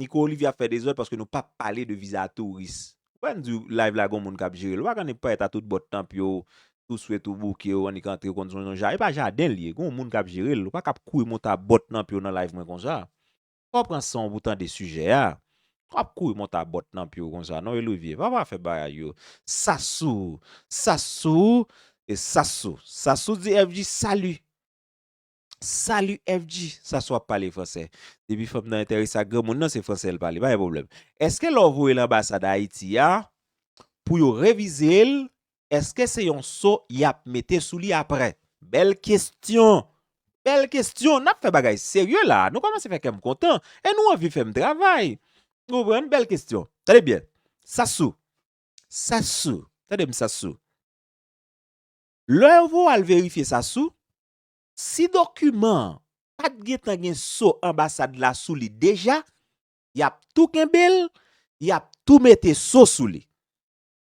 Nico Olivier ap fè dezòd paske nou pa pale de viza touris. Ou pa di live la gon moun kap jerel. Ou pa konn payèt a tout bò tanp yo, tou swet ou bouke ou annik antre konn son yon ja. E pa jaden l ye. Gon moun kap jerel. Ou pa kap kouri monte a bò tnanp yo nan live mwen konsa. Fò w pran san w pou w tande sijè a. Pa ap kouri monte a bò tnanp yo konsa non Olivier. Pa pa fè bagay yo. Sassou! Sassou! E Sassou! Sassou di FG salut! Salut FG, sa sou ap pale fransè. Depi fanm nan enterese ak granmoun nan se fransè l pale, pa gen pwoblèm. Eske lè w voye l anbasad Ayiti a pou yo revize l, eske se yon so y ap mete sou li aprè? Bèl kestyon! Bèl kestyon! N ap fè bagay serye la a. Nou kòmanse fè kè m kontan e nou anvi fè m travay. Ou konprann? Bèl kestyon. Tande byen, Sassou, Sassou, tande m Sassou, lè yo voye w al verifye Sassou, Si dokiman an pa t gentan gen so anbasad la sou li deja, y ap tou kenbe l, y ap tou mete so sou li.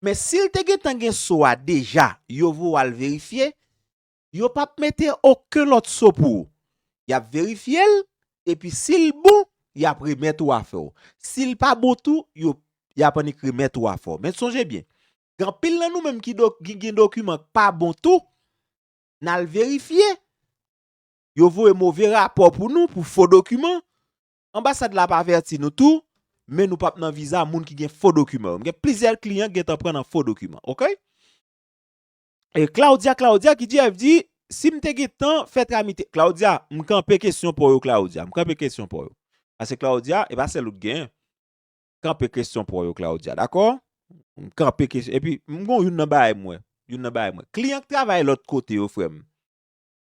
Men si l te gentan gen so a deja yo voa l verifye, yo p ap mete oken lòt so pou ou. Y ap verifye l, epi si l bon, y ap remèt ou afè w. Si l pa bon tou, yo y ap annik remèt ou afè w. Men sonje byen, gen anpil nan nou menm ki gen dokiman k pa bon tou, nal verifye yo voye move rapò pou nou pou fo dokiman anbasad la ap avèti nou tou men nou pap nan viza moun ki gen fo dokiman yo m gen plizyè kliyan ki gentan pran nan fo dokiman ok e claudia claudia ki di FD sim te gen tan fè tramite claudia m kanpe kesyon paw yo claudia m kanpe kesyon paw yo pase claudia e pa sèl ou t gen kanpe kesyon pou yo Claudia dakò m kanpe kesyon epi m gon youn nan bagay m wè youn nan bagay m wè kliyan k travay lòt kote yo frè m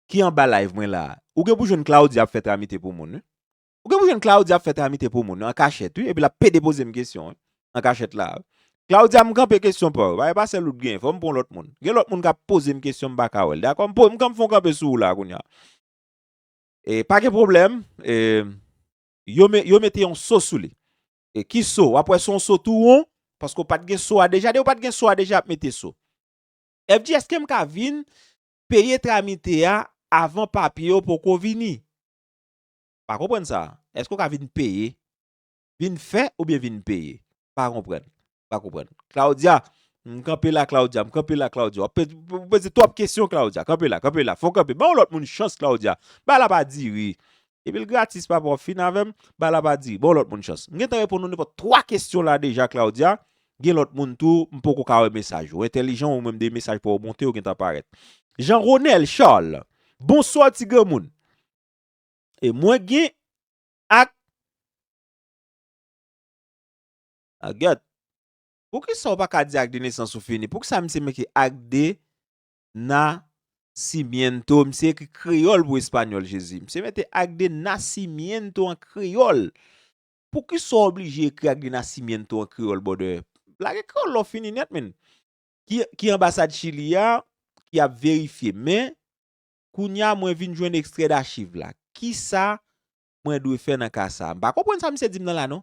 ki anba live mwen la ou gen pou jwenn Claudia ap fè tramite pou moun wi ou gen pou jwenn Claudia ap fè tramite pou moun an kachèt wi epi l ap pede poze m kesyon wi an kachèt la a Claudia m kanpe kesyon pou w e pa sèl ou t gen fò m pran w lòt moun gen lòt moun k ap poze m kesyon m pa ka wè l dakò m fon m kanpe sou w la kounya e pa gen pwoblèm e. yo me yo mete yon so sou li e ki so wap wè son so tou won paske ou pat gen so a deja dew pat gen so a deja yap mete so FG eskem ka vin peye tramite a avan papye yo poko vini pa konprann sa eske ou ka vin peye vin fè oubyen vin peye pa konprann pa konprann. Claudia, m kanpe la Claudia, m kanpe la Claudia. Wap poze twòp kesyon Claudia. Kanpe la, kanpe la. Fon kanpe. Ba yon lòt moun chans Claudia. Ba la pa diri. Depi l gratis papa wap fin avè m, ba la pa diri. Ba yon lòt moun chans. M gentan reponn ou nenpòt 3 kesyon la deja Claudia. Gen lòt moun tou, m poko ka wè mesaj. Ou entèlijan ou menm 2 mesaj pa w monte yo gentan parèt. Jean Ronel Charles, Bonswa ti granmoun. E mwen gen ak. Ah get. Poukisa ou pa ka di ak de nesans ou fini? Poukisa misye mete ak de na simiento? Misye ekri kreyol pou español jezi. Misye mete ak de na simiento an kreyol. Poukisa ou oblije ekri ak de na simiento an kreyol bòdè? Lage kreyol la ou fini net min. Ki anbasad chili a ki ap verifye men kounya mwen vin jwenn ekstrè dachiv la kisa mwen dwe fè nan ka sa m pa konprann sa misye dim nan la non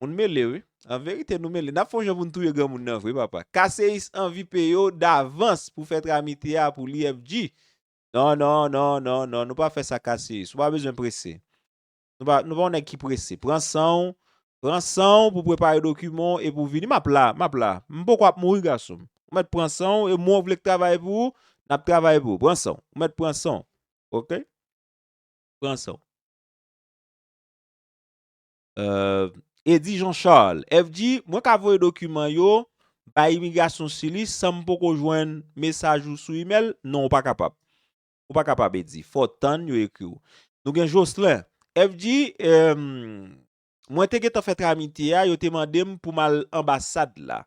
Moun mele wi. An verite nou mele. Nap fon jan pou nou touye granmoun nan vre papa. Kaseis anvi peyo davans pou fè tramite a pou li FG. Non non non non non nou pa fè sa kaseis. Ou pa bezwen prese. Nou pa nou pa yon nèg ki prese. Pran san ou. Pran san ou pou prepare dokiman ou e pou vini. Map la. Map la. M poko ap mouri gason m. Ou mèt pran san ou e mwen vle k travay pou ou. Nap travay pou ou. Pran san ou. Ou mèt pran san ou. Ok. Pran san ou. Eddy Jean Charles, FG, mwen ka voye dokiman yo bay imigrasyon sili san m poko jwenn mesaj ou sou imèl? Non, ou pa kapab. Ou pa kapab, Eddy. Fò w tann yo ekri w. Nou gen Jocelyn, FG, mwen te gentan fè tramite a, yo te mande m pou m al anbasad la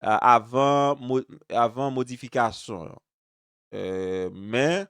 avan modifikasyon. Men,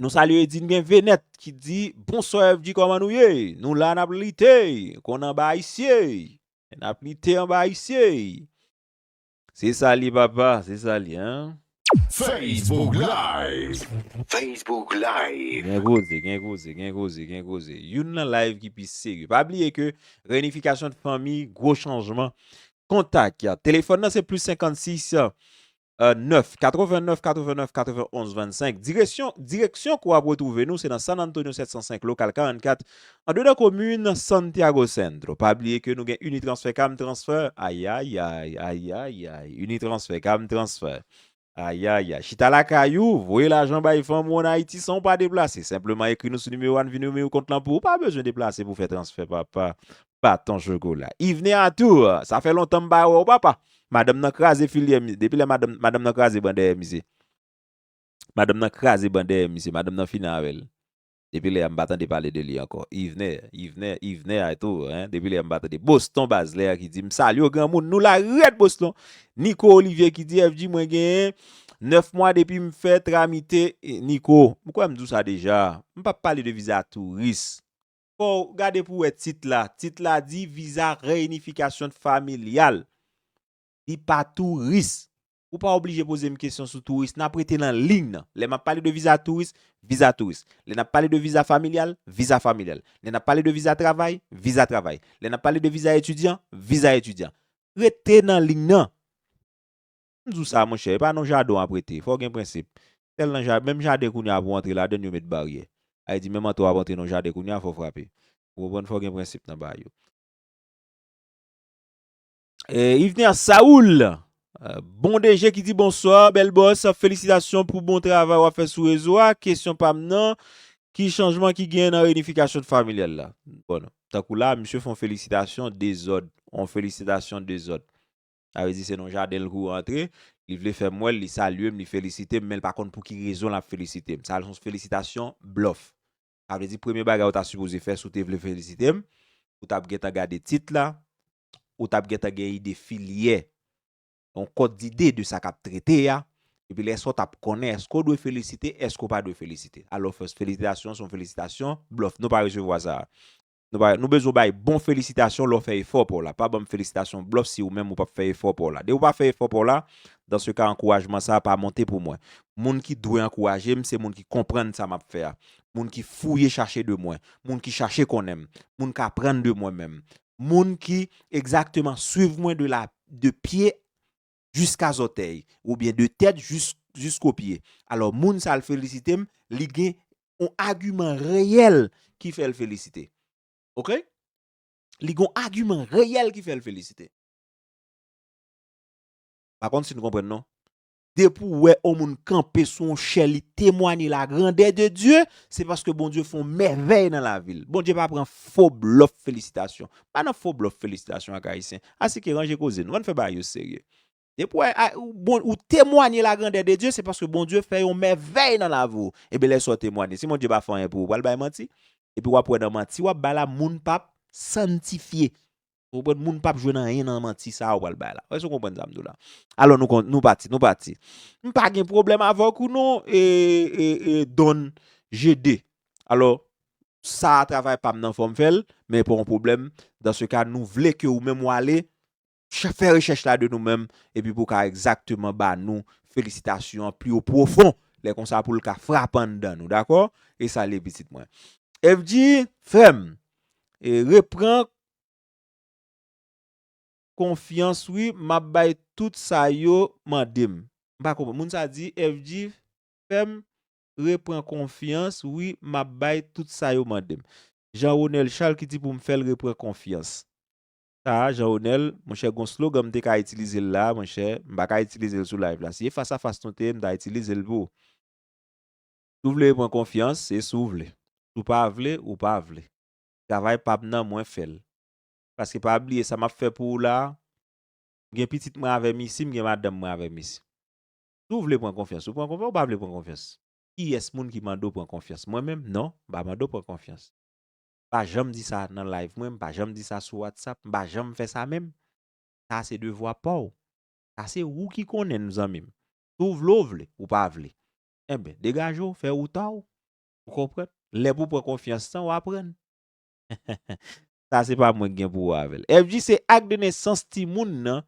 Nou salye Edine gen Venet ki di Bonsoir FG koman nou ye? Nou la nap lite kon anba ayisye. Nap lite anba ayisye. Se sa li papa, se sa li hein. Facebook live. Facebook live. Gen koze, gen koze, gen koze, gen koze. Youn nan live ki pi serye. Pa bliye ke reunification de fanmi, gwo chanjman. Kontak ya. Telefòn nan se plus 56 9, 89, 89, 91, 25, Diresyon, direksyon kou ap retwouve nou se nan San Antonio 705, lokal 44, andedan komin Santiago Centro. Pa bliye ke nou gen Unitransfer Cam Transfer, ayayay, ayayay, Unitransfer Cam Transfer, ayayay, chita lakay ou, voye lajan bay fanm ou an Ayiti san ou pa deplase, senpleman ekri nou sou nimewo a n vin ouvri kont lan pou ou, pa bezwen deplase pou fè transfè papa, baton chokola. Yvne Arthur, sa fè lontan m pa wè w papa. Madanm nan kraze filyè misye. Depi lè madanm, madanm nan kraze ban dèyè misye. Madanm nan kraze ban dèyè misye. Madanm nan fini avè l. Depi lè a m pa tande pale de li ankò. Yvne, Yvne, Yvne Arthur, hein, depi lè a m pa tande. Boston Bazler ki di, M salye w granmoun, nou la rèd Boston. Nico Olivier ki di, FG mwen genyen 9 mwa depi m fè tramite, Nico, m kwè m di w sa deja, m pa p pale de viza touris. fòw gade pou wè tit la, tit la di viza reyinifikasyon familyal li pa touris, ou pa oblije pozem kesyon sou touris nap rete nan liy nan, lè map pale de viza touris, viza touris, lè nap pale de viza familyal, viza familyal, lè nap pale de viza travay, viza travay, lè nap pale de viza etidyan, viza etidyan, rete nan liy nan. M di w sa monchè, e pa nan jaden w ap rete. Fò w gen prensip. Sèl nan ja, menm jaden kounye a pou w antre ladann yo met baryè. Sa vle di menm antre w ap antre nan jaden kounye a fò w frape. Ou konprann fò w gen prensip nan bagay yo. Yvener Saul, bon DG ki di bonswa, bèl bòs, felisitasyon pou bon travay w ap fè sou rezo a. Kesyon pa m nan, ki chanjman ki genyen nan reyinifikasyon familyal la? Bon, tankou la a misye fè yon felisitasyon dezòd, yon felisitasyon dezòd. Sa vle di se nan yon jaden l kou rantre, li vle fè m wè l, li salye m, li felisite m, men l pa konn pou ki rezon l ap felisite m. Sa a se yon felisitasyon blòf. Sa vle di premye bagay ou ta sipoze fè si w te vle felisite m, ou t ap gentan gade tit la, ou t ap gentan gen ide filyè, yon kòd dide de sa k ap trete a, epi lè sa w t ap konnen èske w dwe felisite, èske w pa dwe felisite. Alò fòs felisitasyon se yon felisitasyon blòf. Nou pa resevwa sa a. Nou bezwen w bay bon felisitasyon lè w fè efò pa w la. Pa banm felisitasyon blòf si ou menm ou pap fè efò pa w la. Depi ou pa fè efò pa w la, dans ce cas ankourajman sa a pa monte pou mwen. Moun ki dwe ankouraje m se moun ki konprann sa m ap fè a, moun ki fouye chache de mwen, moun ki chache konnen m, moun k aprann de mwen menm, moun ki egzakteman swiv mwen de pye jiska zòtèy oubyen de tèt jisko pye alò moun sa l felisite m li gen yon agiman reyèl ki fè l felisite ok li gen yon agiman reyèl ki fè l felisite m pa konn si n konprann non depi w wè yon moun kanpe sou yon chè li temwanye lagrandè de Dye se paske Bondye fè yon mèvèy nan lavi l Bondye pa pran fo blòf felisitasyon m pa nan fo blòf felisitasyon ak ayisyen Asike ranje koze nou, ann fè bagay yo serye. Depi w wè ou temwanye lagrandè de Dye, se paske Bondye fè yon mèvèy nan lavi w. Eben lè sa w temwanye, si Bondye pa fè anyen pou ou, ou pral bay manti. Epi w ap wè nan manti w ap bay la, moun p ap santifye. Ou konprann? Moun p ap jwenn anyen nan manti sa a ou pral bay la. Èske w konprann sa m di w la? Alò nou pati, nou pati. M pa gen pwoblèm avèk ou non, Don Jede. Alò, sa a travay pam nan fòm fèl men pa yon pwoblèm dans ce cas nou vle ke ou menm wale fè rechèch la de nou menm epi pou ka egzakteman ba nou felisitasyon an pli o pwofon lè konsa poul ka frape anndan nou dakò e salye pitit mwen Evdy frèm e repran konfyans wi map bay tout sa yo mandem mpa konprann moun sa di Evdy frèm repran konfyans wi map bay tout sa yo mandem Jean Ronel Charles ki di poum fèl repran konfyans sa a Jean Ronel monchè gon slogan m te ka itilizel la a monchè m paka itilizel sou live la si e fas a fas nou te ye m ta itilizel pou Si w vle repran konfyans se si w vle si w pa vle ou pa vle travay pam nan mwen fèl paske pa bliye sa map fè pou ou la a m gen pitit mwen avèm isi m gen madanm mwen avèm isi Si w vle pran konfyans ou pran konfyans, ou pa vle pran konfyans. Kiyès moun ki mande w pran konfyans? Mwen menm? Non, m pa mande w pran konfyans. M pa janm di sa nan live mwen, m pa janm di sa sou WhatsApp, m pa janm fè sa menm. Sa se devwa pa w. Sa se ou ki konnen n zanmi m. Si w vle w vle, ou pa vle. Enben, degaje w, fè wouta w. Ou konprann? Lè pou w pran konfyans lan, w aprann. Sa se pa mwen ki gen pouwa avè l. FG se ak de nesans timoun nan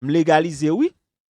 m legalize wi.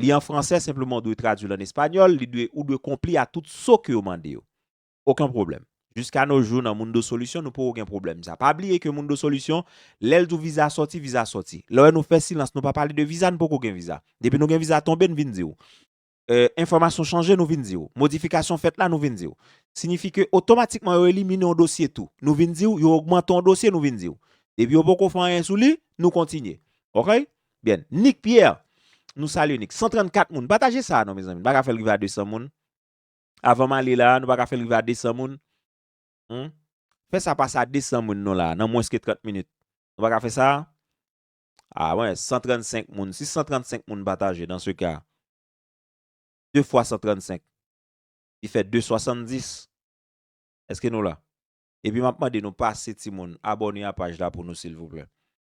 Li an fransè, senpleman w dwe tradui l an espanyòl, li dwe, ou dwe konpli a tout so ke yo mande yo. Oken pwoblèm. Jiska no jou nan Mundo Solution nou poko gen pwoblèm sa. Pa bliye ke Mundo Solution, lè l di w viza sòti, viza sòti. Lè w wè nou fè silans, nou pa pale de viza, nou poko gen viza. Depi nou gen viza tonbe, n vin di w. Enfòmasyon chanje, nou vin di w. Modifikasyon fèt la, nou vin di w. Sinifi ke otomatikman yo elimine yon dosye tou. Nou vin di w, yo ogmante yon dosye, nou vin di w. Depi yo poko fè anyen sou li, nou kontinye. Oke? Byn. Nic Pierre Nou salye Nic. 134 moun. Pataje sa a non mezanmi. Nou pa ka fè l rive a 200 moun. Avan m ale la a, nou pa ka fè l rive a 200 moun. Hum. Fè sa pase a 200 moun non la a, nan mwens ke 30 minit. Nou pa ka fè sa a? A mwen, 135 moun. Si 135 moun pataje dan se ka, 2 fwa 135, li fè 270. Eske nou la? Epi m ap mande nou pase timoun abòne a paj la pou nou silvouplè.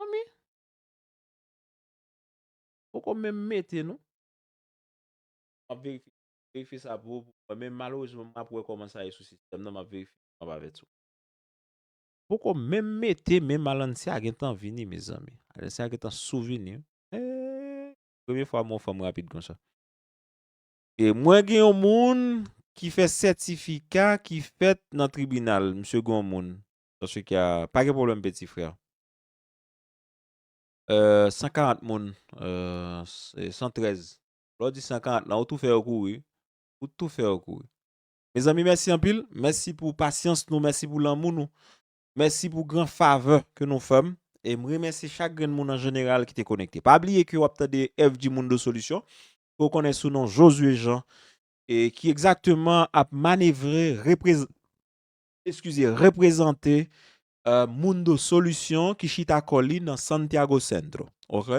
Manmi. Poko menm mete non. Map verifye verifye sa pou ou pou men malerezman map wè koman sa ye sou sistèm nan map verifye map avè tou. Poko menm mete men Malancia gentan vini mezanmi Alancia gentan sou vini eehh premye fwa m wè yon fanm rapid konsa. Mwen gen yon moun ki fè sètifika ki fèt nan tribinal msye gen yon moun An tou ka, pa gen pwoblèm peti frè. 140 moun, 113. Lè w di 140 lan, ou tou fè yo kouri. Ou tou fè yo kouri. Mezanmi mèsi anpil. Mèsi pou pasyans nou, mèsi pou lanmou nou. Mèsi pou gran favè ke nou fè m. E m remèsye chak grenn moun an jeneral ki te konekte. Pa bliye ke w ap tande FG Mundo Solution, ke w konnen sou non Josué Jean, e ki egzakteman ap manevre, reprezante, eskize, reprezante Mundo Solución ki chita kò li nan Santiago Centro. Ok?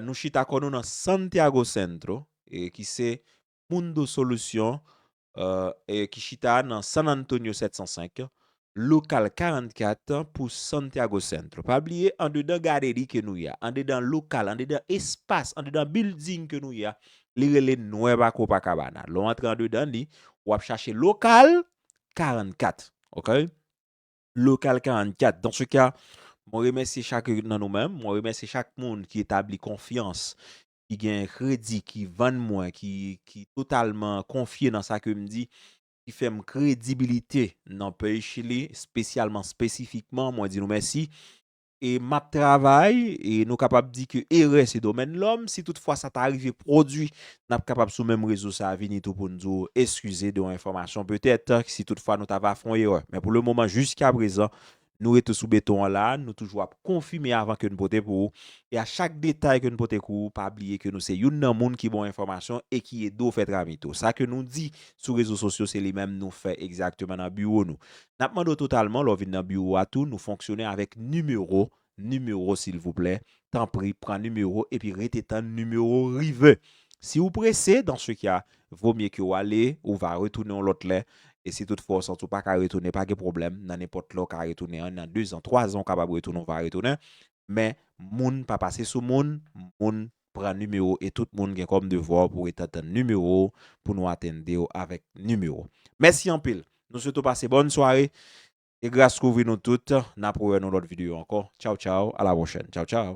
Nou chita kò nou nan Santiago Centro, ki se Mundo Solución ki chita nan San Antonio 705, Local 44 pou Santiago Centro. Pa bliye, andedan gaderi ke nou ye a, andedan lokal, andedan espas, andedan bilding ke nou ye a, li rele Nueva Copacabana. Lè w antre andedan li, w ap chache lokal, 44 ok local 44 dans ce cas mwen remèsye chak nan nou menm mwen remèsye chak moun ki etabli konfyans ki gen kredi ki vann mwen ki ki totalman konfye nan sa ke m di ki fè m kredibilite nan peyi chili spesyalman spesifikman mwen di nou mèsi e m ap travay, e nou kapab di ke erè se domèn lòm, si tout fwa sa ta rive pwodwi, n ap kapab sou menm rezo sa vini tou pou n di w eskize de yon enfòmasyon petèt, si tout fwa nou ta va fè yon erè. Men pou le moman, jiska prezan, nou rete sou beton an la, nou toujou ap konfime avan ke n pote pou ou, e a chak detay ke n pote kou ou, pa bliye ke nou se youn nan moun ki ba w enfòmasyon e ki ede w fè travy tou. Sa ke nou di sou rezo sosyo se li menm nou fè egzakteman nan biwo nou. N ap mande w totalman lè w vin nan biwo a tou nou fonksyone avèk nimewo, nimewo silvouplè, tanpri pran nimewo epi rete tann nimewo rive. Si ou prese, dans ce cas, vaut mieux ke w ale, ou va retounen yon lòt lè, e si tout fwa w santi w pa ka retounen pa gen pwoblèm, nan nenpòt lè w ka retounen, 1 an, 2 zan, 3 zan ou kapab retounen ou va retounen, men moun pa pase sou moun, moun pran nimewo e tout moun gen kòm devwa pou ret antann nimewo w pou nou atende w avèk nimewo w. Mèsi anpil! Nou swete w pase bòn sware e gras kouvri nou tout. N ap rewè nou lòt videyo ankò. Tchaw tchaw, a la pwochèn. Tchaw tchaw!